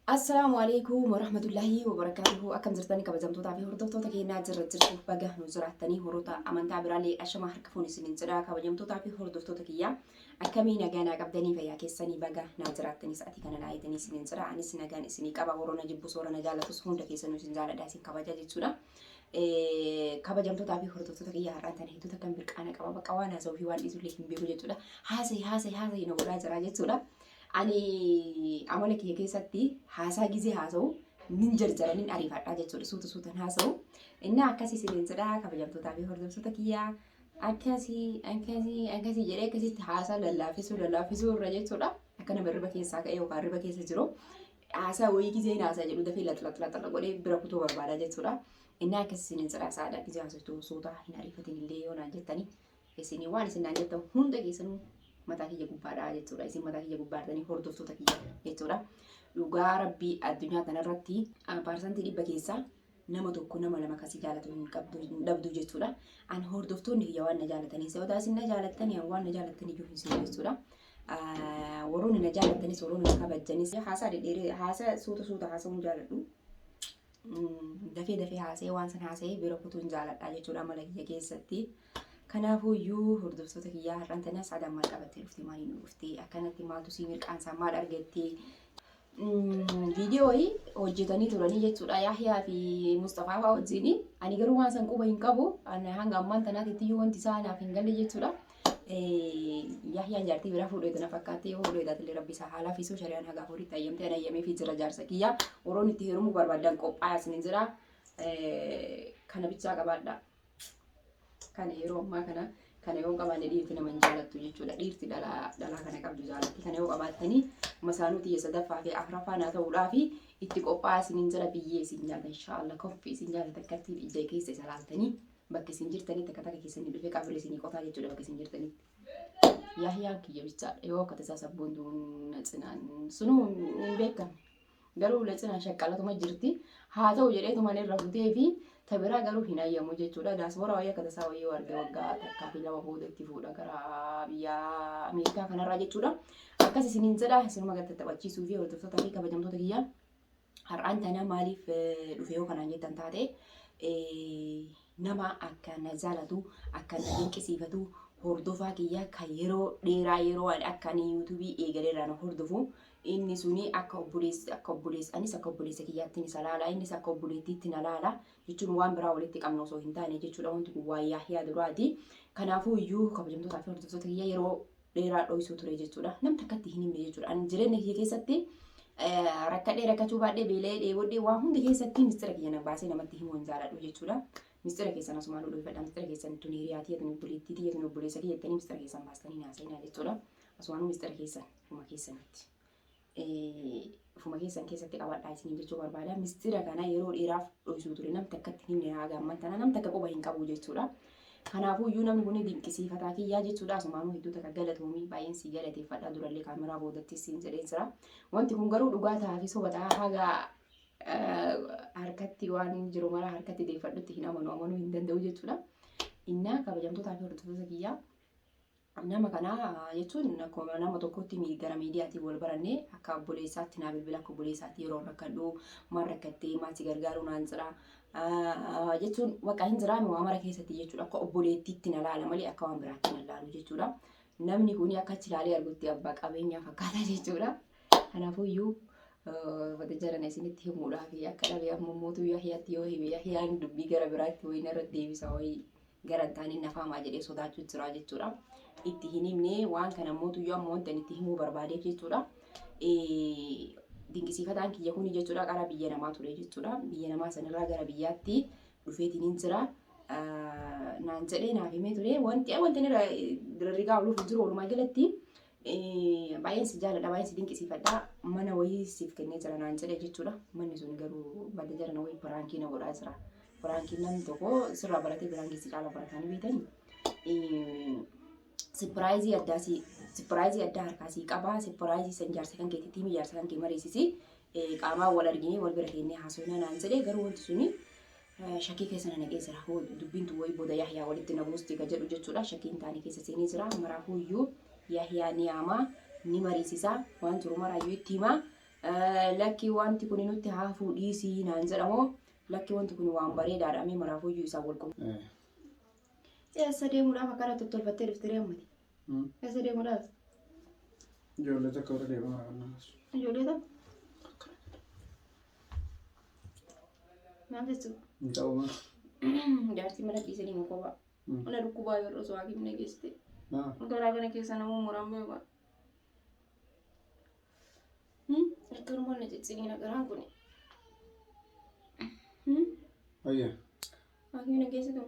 Assalaamu alaikum warahmatullaahi wabarakaatuhu akkam jirtani kabajamtootaa fi hordoftoota keenyaa jirra jirtu baga nu jiraattanii horoota amantaa biraallee ashama harka fuun isiniin jedha kabajamtootaa fi hordoftoota kiyyaa akkamii nagaa naa qabdanii fayyaa keessanii baga naa jiraattanii sa'atii kana naa eeganii isiniin jedha anis nagaan isinii qaba warroona jibbus warra na jaalatus hunda keessanuu isin jaaladha isin kabaja jechuudha. kabajamtootaa fi hordoftoota kiyya har'aan tana hedduu takkan birqaana qaba bakka waan haasa'uu fi waan dhiisullee hin beeku jechuudha haasa'e haasa'e haasa'e na godhaa jira jechuudha. Ani amala kiyya keessatti haasaa gizee haasa'u nin jarjara nin ariifadha jechuudha suuta suutan haasa'u. Innaa akkasii isiniin jedha kabajamtootaa fi hordoftoota kiyyaa akkasii akkasii akkasii jedhee akkasitti haasaa lallaafisuu lallaafisuu irra jechuudha. Akka nama riba keessaa ka'ee yookaan riba keessa jiru haasaa wayii gizee haasaa jedhu dafee laxlaxlaxla godhee bira kutuu barbaada jechuudha. Innaa akkasii isiniin jedha saadaan gizee haasoftu suuta hin ariifatin illee yoo naan jettanii Isin waan isin naan jettan hunda keessanuu mataa kiyya gubbaadha jechuudha. Isin mataa kiyya gubbaadhanii hordoftoota kiyya jechuudha. Dhugaa rabbii addunyaa kanarratti paarsantii dhibba keessaa nama tokko nama lama kasi jaalatu hin qabdu hin dhabdu jechuudha. An hordoftoonni kiyya waan na jaalatanii sababa isin na jaalattan waan na jaalattan iyyuu hin sinu jechuudha. Warroonni na jaalattanis warroonni na kabajanis haasaa dhedheeree haasaa suuta suuta haasaa hin jaaladhu. dafee dafee haasa'ee waan san haasa'ee bira kutuun jaaladha jechuudha amala kiyya keessatti. Kanaafuu iyyuu hordoftoota kiyyaa har'aan tana saadaan maal qabattee dhufte maaliin dhufte akkanatti maaltu sii mirqaansaa maal argattee viidiyoo wayii hojjetanii turanii jechuudha Yahyaa fi Mustafaa fa'aa wajjin ani garuu waan san quba hin qabu Ani hanga ammaan tanaatitti iyyuu wanti isaa naaf hin galle jechuudha. Yahyaan jaartii biraa fuudhee tana fakkaattee yoo fuudhee taatellee rabbi isaa haala fiisuu shari'aan haga afuritti ayyamtee ana ayyamee fi jira jaarsa kiyyaa warroon itti heerumuu barbaadan qophaa'aa isin jira kana bichaa qabaadhaa. Kana yeroo ammaa kana kana yoo qabaanne dhiirti nama hin jaalattu jechuudha. Dhiirti dhalaa dhalaa kana qabdu jaalatti. Kana yoo qabaattanii masaanuu tiyya sadaffaa fi afraffaa naa ta'uudhaa fi itti qophaa'aa isiniin jala biyyee isin nyaata inshaallah koffii isin nyaata takkattiin ija keessa isa laaltanii bakka isin jirtanitti akka takka keessanii dhufee qabri isinii qotaa jechuudha bakka isin jirtanitti. Yaahiyaan kiyya bichaadha yoo akka tasaa sabboontuun na cinaan sunuu hin beekamu. Garuu Latsinan shaqqalatuma jirti. Haa ta'u jedheetuman irra futee fi ta biraa garuu hin hayyamu jechuudha. Daaspooraa wayii akka tasaa wayii yoo arge waggaa takkaa fi lama booda itti fuudha gara biyya Ameerikaa kanarraa jechuudha. Akkas isiniin jedha isinuma gad tattaphachiisuu fi hordoftoota fi kabajamtoota kiyya har'aan tanaa maaliif eh, dhufe yoo kanaan jettan taate eh, Nama akkaan na jaalatu, akkaan na dinqisiifatu, hordofaa kiyya kan yeroo dheeraa yeroo ani akka ani YouTube eegalee irraa na hordofu inni suni akka obboleessi akka obboleessi anis akka obboleessa kiyyaatti isa laala innis akka obboleettiitti na laala jechuun waan biraa walitti qabna osoo hin taane jechuudha wanti kun waa yaahiyaa duraati. Kanaafuu iyyuu kabajamtootaa fi hordoftoota kiyya yeroo dheeraa dhoysuu ture jechuudha. Nam takkatti hin himne jechuudha. Ani jireenya kiyya keessatti rakkadhee rakkachuu baadhee beela'ee dheebodhee waa hunda keessatti mistira kiyya na baasee namatti himuu hin jaaladhu jechuudha. Mistira keessan asumaan nu dhoyfadha. Mistira keessan tun hiriyaa tiyya tun obboleettii tiyya tun obboleessa kiyya jettanii mistira keessan baastanii naasaynaa jechuudha. Asumaan mistira keessan huma keessanitti. ufuma keessan keessatti qabadhaa isiniin jechuu barbaada. Mistira kana yeroo dheeraaf dhoysuu ture nam takkatti hin himne haaga amman tana nam takka quba hin qabu jechuudha. Kanaafuu iyyuu namni kun dinqisiifataa kiyyaa jechuudha. Asumaanuu hedduu takka galatoomii baay'een si galateeffadha durallee kaameraa boodattis siin jedheen jira. Wanti kun garuu dhugaa ta'aa fi soba ta'aa haaga harkatti waan jiru maraa harkatti deeffadhutti hin amanu amanuu hin danda'u jechuudha. Innaa kabajamtootaa fi hordoftoota kiyyaa Nama kana jechuun akkuma nama tokkootti mi- gara miidiyaatiin wal baranne akka obboleessaatti naa bilbila akka obboleessaatti yeroo rakkadhu maal rakkattee maal si gargaaruu naan jira Ah, jechuun waqa hin jiraame waa mara keessatti jechuudha akka obboleettiitti na laala malee akka waan biraatti na laalu jechuudha. Namni kun akka achi ilaalee argutti abbaa qabeenyaa fakkaata jechuudha. Kanaafuyyuu eh, wanta jalana isinitti himuudhaaf akka dhabe amma mootuu Yahiyaatti yoo hime Yahiyaan dubbii gara biraatti wayii narra deebisa wayii Gara hin taaneen nafaa maa jedhee sodaachuu jiraa jechuudha. Itti hin himne waan kana immoo tuyyoo amma wanta itti himuu barbaadeef jechuudha. Dinqisiifataan kiyya kuni jechuudha qara biyya namaa ture jechuudha. Biyya namaa sanirraa gara biyyaatti dhufeetiin hin jira. Naan jedhee naaf himee ture. Wanti wanti irra dirarrigaa ooluuf hin jiru walumaa galatti Baay'een si jaaladha, baay'een si dinqisiifadha. Mana wayii siif kennee jira naan jedhe jechuudha. Manni sun garuu badda jara na wayii piraankii na godhaa jira. Piraankii namni tokko sirraa baratee piraankii si caala baratanii beekanii. Sipiraayizii addaa si sipiraayizii addaa harkaa si qabaa. Sipiraayizii san jaarsa kan keetti tiimi jaarsa kan kee mariisisi. Qaamaa wal arginee wal bira kennee haasofnaa naan jedhe garuu wanti suni Shakkii keessa na naqee jira. Hoo dubbiin tun wayii booda Yahyaa walitti na buusti ka jedhu jechuudha. Shakkiin taane keessa seenee jira. Maraafuuyyuu Yahyaa ni yaamaa, ni mariisisa, waan jiru maraayyuu itti hima. Eh, Lakki wanti kun nutti haa hafuu dhiisii naan jedhamoo lakki wanti kun waan bareedaadha mee maraafuuyyuu isaan wal qunnamsiisa. Eessa deemuudhaaf akkana tottolfattee dhufte ree ammati? Eessa deemuu laata? Ijoollee tokko irra deemaa raawwan namas. Ijoollee tokko maal jechuudha? Hin ta'u maa? Jaartii mana dhiisee deemu kophaa. Mana dhukkubaa yoo osoo haakimne geessite. Maa? Garaa kana keessa namuu muraan beeku. Harka hormoon na cicciniina garaan kun. Fayyaa. Haakimne geessitu.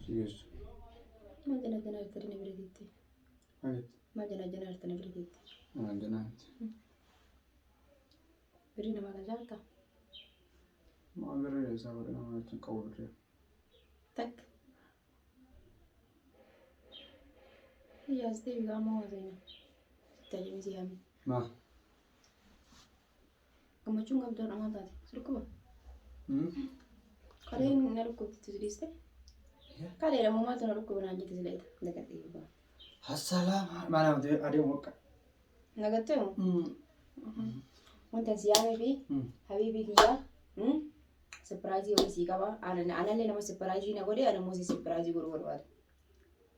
Si geessu. Maal jala jala hartanii na bira teettee? Maaliif? Maal jala jala hartanii na bira teettee? Maal janaatti? Birrii namaa kan jaalta? Maal birrii isaa godhe nama achi hin qabu birrii. Takk. Iyyaas deebi gaamoo waan seenaa. Tajjimii si haamee. Maa? Gammachuun qabdu har'a maal taate? Si dhukkuba? Kalee na dhukkubsitu si dhiiste? Kalee dha maaltu na dhukkuba naan jette sileeta. Dagadhee eebbaa. Hassalaam maanaam adeemu akka. Nagattee moo? Wanta si yaamee fi habiibii kiyyaa sipiraayizii wayii sii qaba. Anallee nama sipiraayizii na godhe ana immoo si sipiraayizii godhuu barbaada.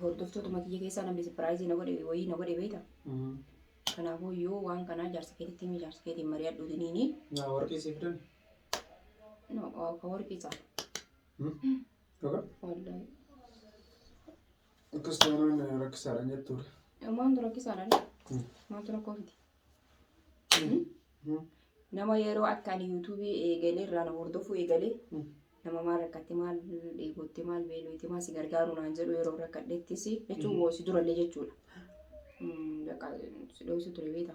Hordoftootuma kiyya keessaa namni sipiraayizii na godhe wayii na godhe beekta. Kanaafuu yoo waan kanaa jaarsa keetitti himi jaarsa keetiin mari'adhu diniini. Naa warqii siif dan. No, ka warqii isaa. Dhugaa? Wallahi. Akkas taanaan rakkisaadhaan jettuudha. Maaltu rakkisaadhaan? Maaltu rakkoo fiti? Nama yeroo akka ani yuutuubii eegalee irraa na hordofuu eegalee nama maal rakkatte maal dheebotte maal beeloote maal si gargaaru naan jedhu yeroo rakkadhettis jechuun woo si durallee jechuudha. Bakka si dho'isu ture beekta.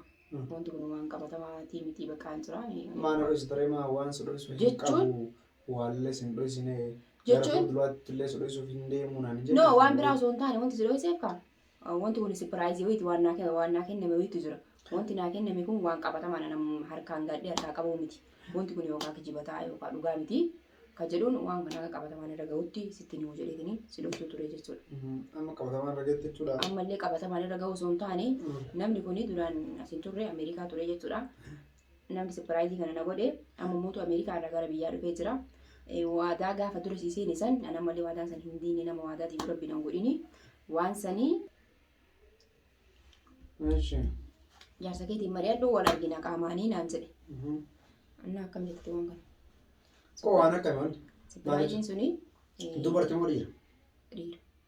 Wanti kun waan qabatamaa tii mitii bakka hin jira. Maa na dho'isu ture maa waan si dho'isu hin Jechuun- qabu waallee sin dho'isine gara Jechuun- fuulduraatti illee si dho'isuuf hin deemu naan jedhu. No waan biraa osoo hin taane wanti si dho'iseef kaa Wanti kun sipiraayizii wayiiti waan naa kenne- waan naa kenname wayiitu jira. Wanti naa kenname kun waan qabatamaan anam harkaan gaadhee harkaa qabuu miti. Wanti kun yookaan kijiba ta'a yookaan dhugaa miti. Ka jedhuun waan kana akka qabatamaan irra gahutti sitti himuu jedheetini si dhoksuu ture jechuudha. Mhm. Amma qabatamaan irra geette jechuudha. Ammallee qabatamaan irra gahuu osoo hin taane Mm. namni kun duraan as hin turre Ameerikaa ture jechuudha. Namni sapiraayizii kana na godhe amma mootu Ameerikaa irraa gara biyyaa dhufee jira. Waadaa gaafa dura sii seene san an ammallee waadaa san hin diinne nama waadaa diigu rabbi nan godhini waan sanii Eeshi. jaarsa keetiin mari'adhu wal argina qaamaanii naan jedhe. Annaa akkam jettati waan kana. Koo waan akkami wanti. Sapiraayiziin suni eh, Dubartii moo dhiira? dhiira.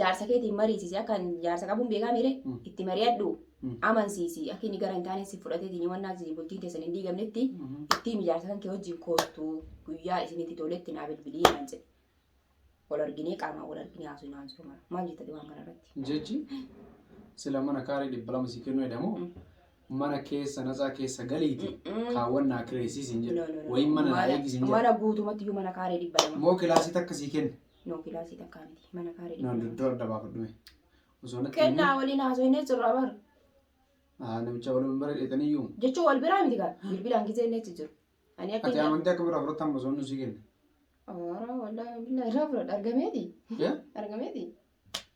Jaarsa keetiin mariisisi akka ani jaarsa qabuun beekaa miire Mm. itti mari'adhu Mm. amansiisi akka inni gara hin taane si fudhateetiin yoo wannaa isin bultiin keessan hin diigamnetti Mhm. itti himi jaarsa kan kee wajjin koottu guyyaa isinitti toletti naa bilbilii naan jedhe wal arginee qaamaan wal arginee haasuu naan jiru mara maal jettati waan kana irratti Jechi sila mana kaarii dhibba lama si kennu jedhamu Mm. mana keessa natsaa keessa galiiti Mm-mm. kaawwan naa kireessiisin No, no, jedhu no. wayii mana naa eegisiin jedhu mana guutumatti iyyuu mana kaaree dhibba lama moo kilaasii takka sii kenna No kilaasii takkaa miti. Mana kaare No dhibba duddu adda baafadhume. Osoo natti himee Kennaa waliin haasofnee jirra bar. haa namicha waliin bara dheetaniyyuu Jechuun wal biraa miti gaa. Bilbilaan gisee inni achi jiru. Ani akka ati inni amantii akkamirraa fudhatta amma osoo inni sii kenne. Ora wallaahi billaahi irraa fudhadha argameeti. Yaa? Argameeti.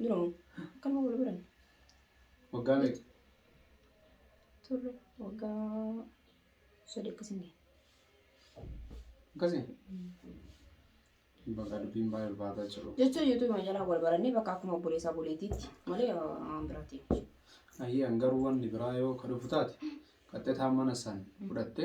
Dura moo? Akkanuma wal baranne. Waggaa meeqa? Turre waggaa sadii akkasiin ga'e. Akkasii? Bakka dubbiin baay'ee ulfaataa jiru. Jecha yuutuubuma jalaa wal barannee bakka akkuma obboleessaa buleetiitti malee waan biraatti. Ayyee an garuu wanni biraa yoo ka dhufu taate qaxxetaa mana san fudhatte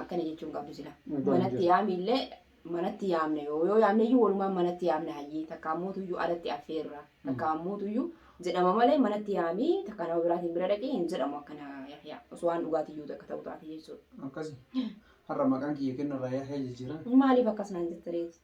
akkana jechuu hin qabdu sila Dhugaa hin manatti jiru. yaamiillee manatti yaamne yoo yoo yaamneyyuu walumaan manatti yaamne hayyii takka ammuutuyyuu alatti affeerra takka ammuutuyyuu jedhama malee manatti yaamii takka nama biraatiin bira dhaqee hin jedhamu akkana yahyaa osoo waan dhugaatiyyuu takka ta'u taate jechuudha. Akkasi. Har'a maqaan kiyya kennarraa yaahee jijjiirame. Maaliif akkas naan jettaniiti?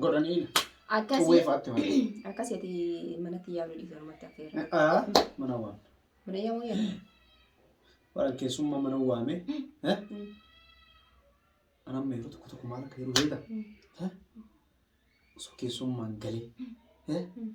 godhanii Akkasii. Xuwwee fa'aatti malee. Akkasii ati manatti yaabni dhiisu namatti affeera. Aa, mana waame. Mana yaamuu yaala. Bara keessummaa mana waame. Eh? Mm. Anam meeruu tokko tokko maal akka yeroo beekta? Mm. Eh? Osoo keessummaan galee. Eh? Mm.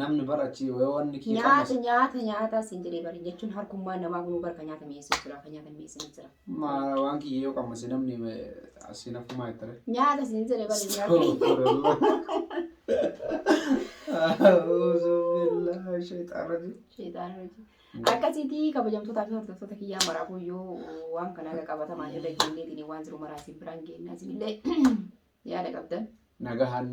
Namni bara achi yoo wanni kee Nyaata qannasu. nyaata nyaata siin jedhee bari jechuun harkummaa namaa kunuu barka nyaata mi'eessuu jira kan nyaata mi'eessina jira. Maa waan kiyya yoo qammase namni eh, asiin hafumaa jettare. Nyaata siin jedhee bari nyaata. Astagfirullah. A'uuzu billahi shayxaan rajiim. Sheexaana hojii. Akkasiiti kabajamtootaa fi hordoftoota kiyyaa maraafuu yoo waan kana haga qabatamaa irra geenyeetiin waan jiru maraa isin biraan geennaa isinillee yaada qabdan. Nagahaan nu